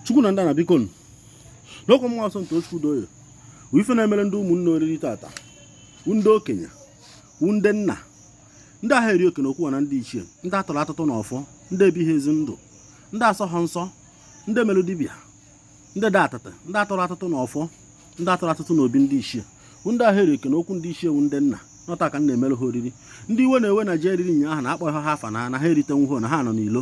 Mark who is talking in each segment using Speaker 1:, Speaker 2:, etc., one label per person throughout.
Speaker 1: chukwu na ndị na biko nụ n'okwu mmụọ nsọ nke chukwu doye wụ ife na-emere ndị ụmụnne oriri tata wụ ndị okenye wụ ndị nna ndị aha eri oke n'okwu ana ndị ichie ndị atụrụ atụtụ na ọfọ ndị ebighị ezi ndụ ndị asọha nsọ ndị mere dibịa ndị dị atata ndị atụrụ atụtụ na ọfọ ndị atụrụ atụtụ na obi ndị ichie wụ ndị aha eri oke n'okwu ndị ichie wụ ndị nna nọta ka m na-emere ha oriri ndị iwe na-ewe na ji e riri nyaahụ na akpọghị ha afa na na ha eritenwuho na ha nọ n'ilo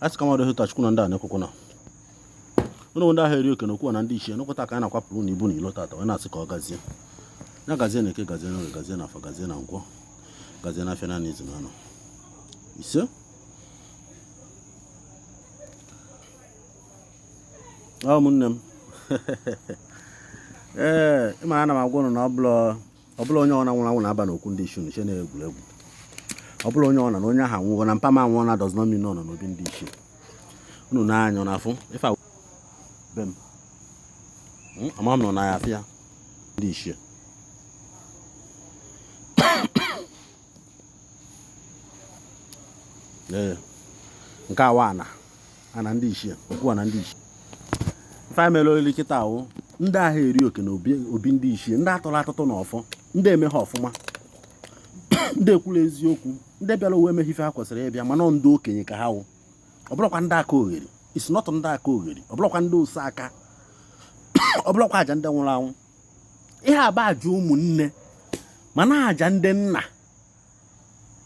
Speaker 1: a sị ka mmadụ hụta chukwu na ndị a na-ekwukwu na o nwe ndị aha eri oke n'okwu ana ndị ichie nọ kịta ka a na-akwapụrụ na ibu na ilo tata wee na-asị ka ọ gazie ya gazie na eke gazie na orie gazie na afọ gazie na nkwọ gazie na afịa na izu na anọ ise ụmụnne m ee ịmara ana m agwa ụnụ na ọ bụla ọ bụla onye ọna nwụrụ anwụ na-aba n'okwu ndị ichie nche na-egwuregwu ọ bụla onye ọna na onye ahụ anwụọna mpa m anwụọna does not mean nọ n'obi ndị ichie unu na-anya na afụ ife be m hmm, ama m nọ na ya afịa ndị ichie ee nke awa ana ana ndị ichie okwu ana ndị ichie ife anyị mere olili kịta wụ ndị aha eri oke na obi obi ndị ichie ndị atụla atụtụ na ọfọ ndị emeha ọfụma ndị ekwula eziokwu ndị bịara ụwa emeghị ife ha kwesịrị ịbịa mana ọ ndị okenye ka ha wụ ọ bụlakwa ndị akaogheri isi nọtụ ndị akaogheri ọ bụlakwa ndị ose aka ọ bụlakwa aja ndị nwụrụ anwụ ihe a bụ aja ụmụnne mana aja ndị nna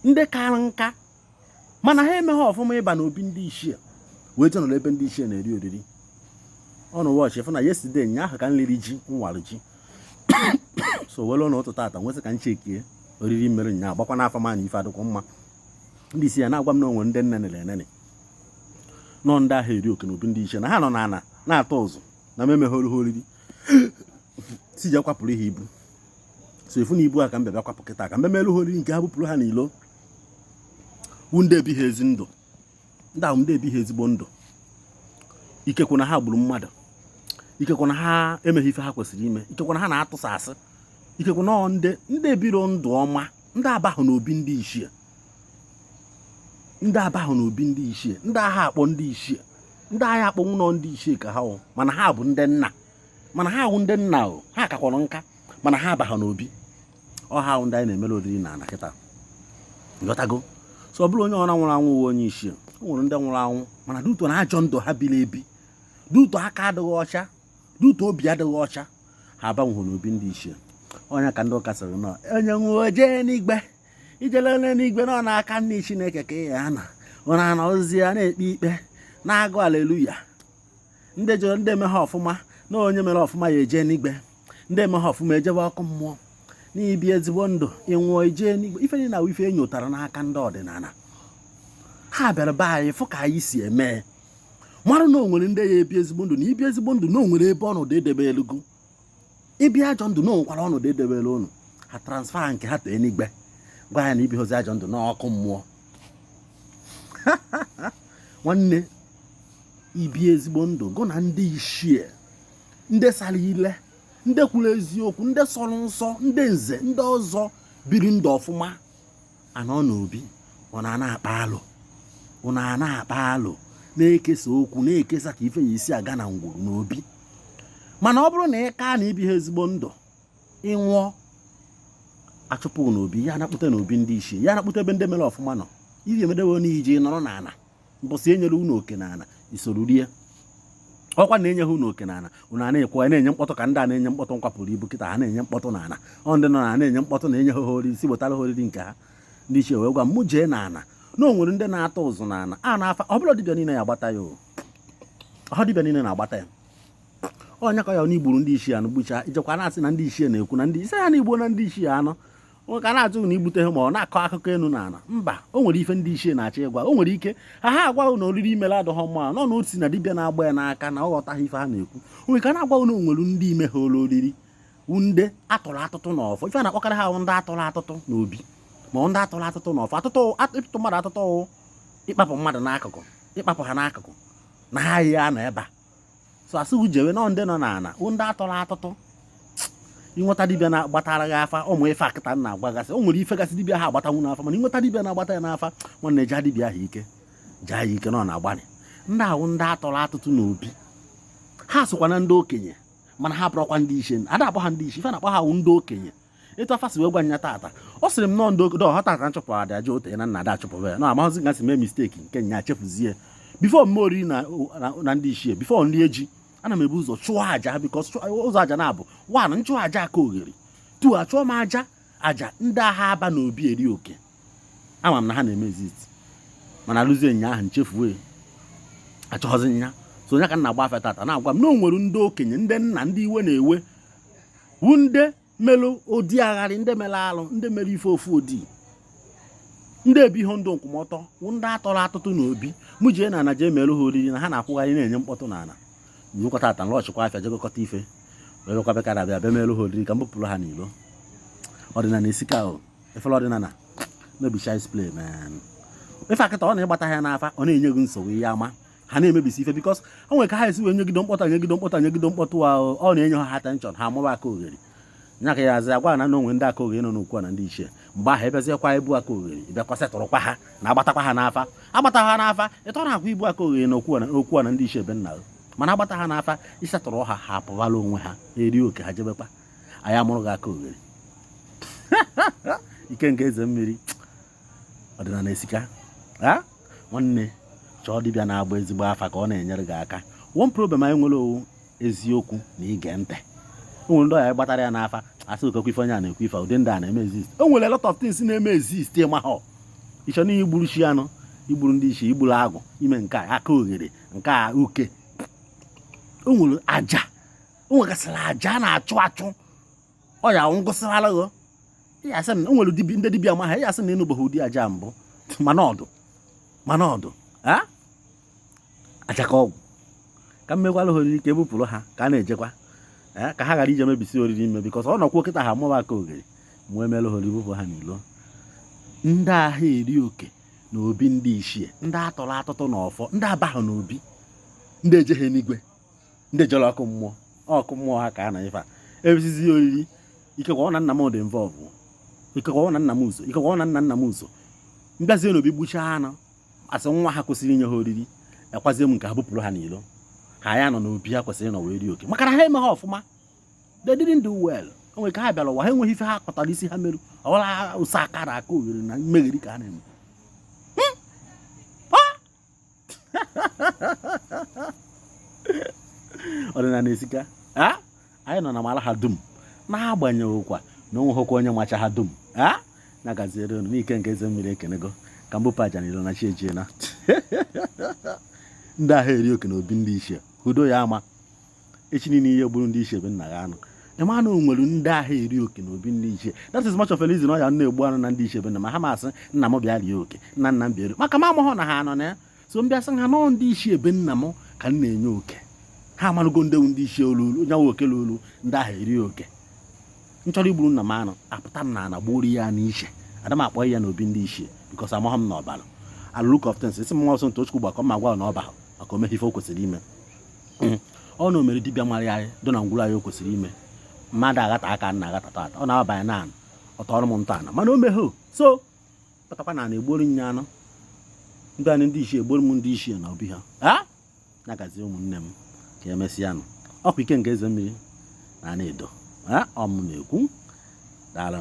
Speaker 1: ndị kara nka mana ha emeghị ọfụma ịba n'obi ndị ichie wee je nọrọ ebe ndị ichie na-eri oriri ụnụ watch fụ na yesterday nyaahụ ka m liri ji m wara ji so were ọnụ ụtụtụ tata m wee sị ka m checkie oriri m mere nyaa agbakwa n'afa ma na ife adịkwa mma ndị ichie na-agwa m na o nwere ndị m neni eneni nọ ndị aha eri oke n'obi ndị ichie na ha nọ n'ana na-atụ ụzụ na m emeghọrọ ha oriri sị je kwapụrụ ha ibu so ị fụ na ibu a ka m bịa kwapụ kịta ka m memelụ ha oriri nke ha bupụrụ ha n'ilo wụ ndị ebighị ezi ndụ ndị ahụ ndị ebighị ezigbo ndụ ikekwe na ha gburu mmadụ ikekwe na ha emeghị ife ha kwesịrị ime ikekwe na ha na-atụsa asị ikekwe na ndị ndị ebiro ndụ ọma ndị abahụ n'obi ndị ichie ndị abahụ na obi ndị ichie ndị aha akpọ ndị ichie ndị aha akpọnwu nọ ndị ichie ka ha wụ mana ha bụ ndị nna mana ha wụ ndị nna o ha kakwara nka mana ha abahụ na obi ọ ha wụ ndị anyị na-emere oriri na ana kịta ghọtago so ọ bụla onye ọna nwụrụ anwụ wụ onye ichie o nwere ndị nwụrụ anwụ mana due to na ajọ ndụ ha biri ebi due to aka adịghị ọcha due to obi adịghị ọcha ha abanwụghị n'obi ndị ichie onye ka ndị ụka sịrị nọ onye nwụọ jee n'igwe ijele n'eluigwe nọ n'aka nni chineke ka ị ya-anọ na-ana ozi ya na-ekpe ikpe na-agụ aleluya ndị jụrụ ndị emeha ọfụma na onye mere ọfụma ya eje n'igwe ndị emeha ọfụma ejebe ọkụ mmụọ na ibi ezigbo ndụ ịnwụọ ijee n'igwe ife niile na ife enyotara n'aka ndị ọdịnala ha bịara be anyị fụ ka anyị si eme mara na onwere ndị ya ebi ezigbo ndụ na ibi ezigbo ndụ na onwere ebe ọnọdụ edebelụ gụ ibi ajọ ndụ na onwekwara ọnọdụ edebere ụnụ ha transfer nke ha tee n'igwe gwa ya na ibihozi ajọ ndụ n'ọkụ mmụọ nwanne ibi ezigbo ndụ gụ na ndị ichie ndị sara ile ndị kwuru eziokwu ndị sọrọ nsọ ndị nze ndị ọzọ biri ndụ ọfụma anọ n'obi unu ana-akpa alo unu ana-akpa alo na-ekesa okwu na-ekesa ka ife ya-esi aga na ngwuru n'obi mana ọ bụrụ na ị kaa na ibiha ezigbo ndụ ịnwụọ achụpụ n'obi ya anakpụta n'obi ndị ichie ya anakpụta ebe ndị mere ọfụma nọ iji emedewe n'iji nọrọ n'ala mbọsị enyere unu oke na ala isoro rie ọkwa na enyeghị unu oke na ala unu a na-ekwu a na-enye mkpọtụ ka ndị a na-enye mkpọtụ nkwapụrụ ibu kịta ha na-enye mkpọtụ na ala ọ ndị nọ n'ana na-enye mkpọtụ na enyeghị ha oriri sị wetara ha oriri nke ha ndị ichie wee gwa m jee na ala na o nwere ndị na-atụ ụzụ na ala n'afa ọ bụrọ dibịa niile ya agbata ya ọ dibịa niile na-agbata ya onye ka ya na igburu ndị ichie anụ gbuchaa ijekwa na-asị na ndị ichie na-ekwu na ndị ị sị ya na igbuona ndị ichie anụ nwoke a na-ajụ na igbuteha ma ọ na-akọ akụkọ elu na ala mba o nwere ife ndị ichie na-achọ ịgwa o nwere ike ha ha agwa gị na oriri imere adịghọ mma nọ na otu na dibịa na-agba ya n'aka na ọ ghọtaghị ife ha na-ekwu onwe ka na-agwa gị na onwere ndị imehalụ oriri ndị atụrụ atụtụ na ọfọ ife na-akpọkarị ha ndị atụrụ atụtụ na obi ma ndị atụrụ atụtụ na ọfọ atụtụ ịtụtụ mmadụ atụtụ ịkpapụ mmadụ n'akụkụ ịkpapụ ha n'akụkụ na ha ya-anọ ebe a so asị ha jewe nọ ndị nọ n'ala wụ ndị atụrụ atụtụ ịnweta dibịa na-agbatara gị afa ụmụ ife a kịta na-agbagasị o nwere ife gasị dibịa ha agbatanwu n'afa mana ịnweta dibịa na-agbata ya n'afa nwanne jaa dibịa ahụ ike jaa ya ike na ọ na-agbalị ndị ahụ ndị atụrụ atụtụ n'obi ha sokwa na ndị okenye mana ha bụrọkwa ndị ichie ada akpọ ha ndị ichie ife a na-akpọ ha wụ ndị okenye etu afa si wee gwa nya tata ọ sịrị m na ọ ndị okenye tata nchụpụ ada aja ote na nna ada achụpụba ya na amaghịzi ka m si mee mistake nke nya chefuzie before m mee oriri na ndị ichie before m rie ji ana m ebu ụzọ chụọ aja because ụzọ aja na-abụ one nchụọ aja akalogheri two achụọ m aja aja ndị aha aba na obi eri oke ama m na ha na-eme exist mana alụzie nya ahụ nchefuo achụghọzi nya so ọ nya ka m na-agba afa tata na-agwa m na o nwere ndị okenye ndị nna ndị iwe na-ewe wu ndị melụ ụdị agharị ndị mere alụ ndị mere ife ofu odi ndị ebighị ndụ nkwụmọtọ wụ ndị atọrọ atụtụ na obi mụ jee na ana jee merụ ha oriri na ha na-akwụgharị na-enye mkpọtụ na ana nyekọta ata nlọchịkwa afịa je gokọta ife wee bịakwa bekara abịa bịa merụ ha oriri ka m bupụrụ ha n'ilo ọdịnala esika efere ọdịnala no be child's play man ife a kịta ọ na ịgbata ya n'afa ọ na-enye gị nsogbu ihe ama ha na-emebisi ife because o nwere ka ha esi wee nyegido mkpọtụ anyegido mkpọtụ anyegido mkpọtụ ahụ ọ na-enye ha attention ha amụba aka oghere nya ka ya azị agwa na o nwe ndị aka oghere nọ n'okwu na ndị ichie mgbe ahụ ebeziekwa ibu aka oghere ịbịakwa setụrụkwa ha na agbatakwa ha n'afa agbata ha n'afa ịtọ na akwa ibu aka oghere na okwu na ndị ichie be nna mana agbata ha n'afa ịsetụrụ ha ha apụwala onwe ha eri oke ha jebekwa anyị amụrụ gị aka oghere ike nke eze mmiri ọdịnala esika nwanne chọọ dibịa na-agba ezigbo afa ka ọ na-enyere gị aka one problem anyị nwere ọ wụ eziokwu na ige ntị o nwere ndị ọya gbatara ya n'afa asị ọ kekwa ife onye a na-ekwu ife ụdị ndị a na-eme exist o nwere a lot of things na-eme exist ị maha ị chee na igburu chi anụ igburu ndị ichie igburu agwụ ime nke a aka oghere nke a uke o nwere aja o nwegasịrị aja na-achụ achụ ọ ya ngụsịrala gị ya asị na o nwere ndị dibịa amaha ya asị na ịnụbeghị ụdị aja mbụ mana ọ dụ mana ọ dụ aja ka ọgwụ ka m mekwara ha oriri ka e bupụrụ ha ka a na-ejekwa ka ha ghara ije mebisi oriri ime because ọ nọkwuo kịta ha mụba aka oghere mụ emere ha oriri bupụ ha n'ilo ndị aha eri oke na obi ndị ichie ndị atọrọ atụtụ na ọfọ ndị abaghị n'obi ndị ejeghị n'igwe ndị jere ọkụ mmụọ ọkụ mmụọ ha ka a na ife a ebizizi oriri ikekwa ọ na nna m dị involve ikekwa ọ na nna m uzo ikekwa ọ na nna nna m uzo m bịazie n'obi gbuchaa anụ asị nwa ha kwesịrị inye ha oriri ekwazie m nke ha bupụrụ ha n'ilo ha ya nọ n'obi ha kwesịrị ịnọ wee rie oke maka na ha emeghị ọfụma they didn't do well o nwere ka ha bịara ụwa ha enweghị ife ha kpatara isi ha merụ ọwara ụsa akara aka oghere na mmegheri ka ha na-eme ọdịnala esika anyị nọ na mara ha dum n'agbanyeghịkwa na o nweghịkwa onye macha ha dum nya gaziere unu n'ike nke eze mmiri ekenego ka m bupụ aja na ilo na chi ejiela ndị aha eri oke na obi ndị ichie udo ya ama echi niile i gburu ndị ichie be nna ya anụ ịma na o nwere ndị aha eri oke na obi ndị ichie that is much of a reason ọ ya na-egbu anụ na ndị ichie be nna m aha m asị nna m bịa rie oke nna nna m bịa maka m amaghọ na ha anọ na ya so m bịa sị ha nọọ ndị ichie be nna m ka m na-enye oke ha amarụgo ndị wụ ndị ichie olu onye nwe oke olu ndị aha eri oke m chọrọ igburu nna m anụ apụta m na ana gbuoro ya n'iche ada m akpọ ya na obi ndị ichie because amaghọ m na ọ bara look of things isi m nwa sọmtochukwu gbakọ ma gwa na ọ ba maka o meghị ife o kwesịrị ime hmm. ọ na o mere dibịa mara ihe dị na ngwụrụ anyị o kwesịrị ime mmadụ aghata aka na aghata tata ọ na-abanye na anụ ọtọ ọrụ m ntọ ana mana o meghị so batakwa na anụ e gburu nye anụ ndị anyị ndị ichie e gbuoro m ndị ichie na obi ha a na-agazi ụmụnne m ka emesịa nụ ọkwa ike nke eze mmiri na Anaedo ọ mụ na-ekwu daalụ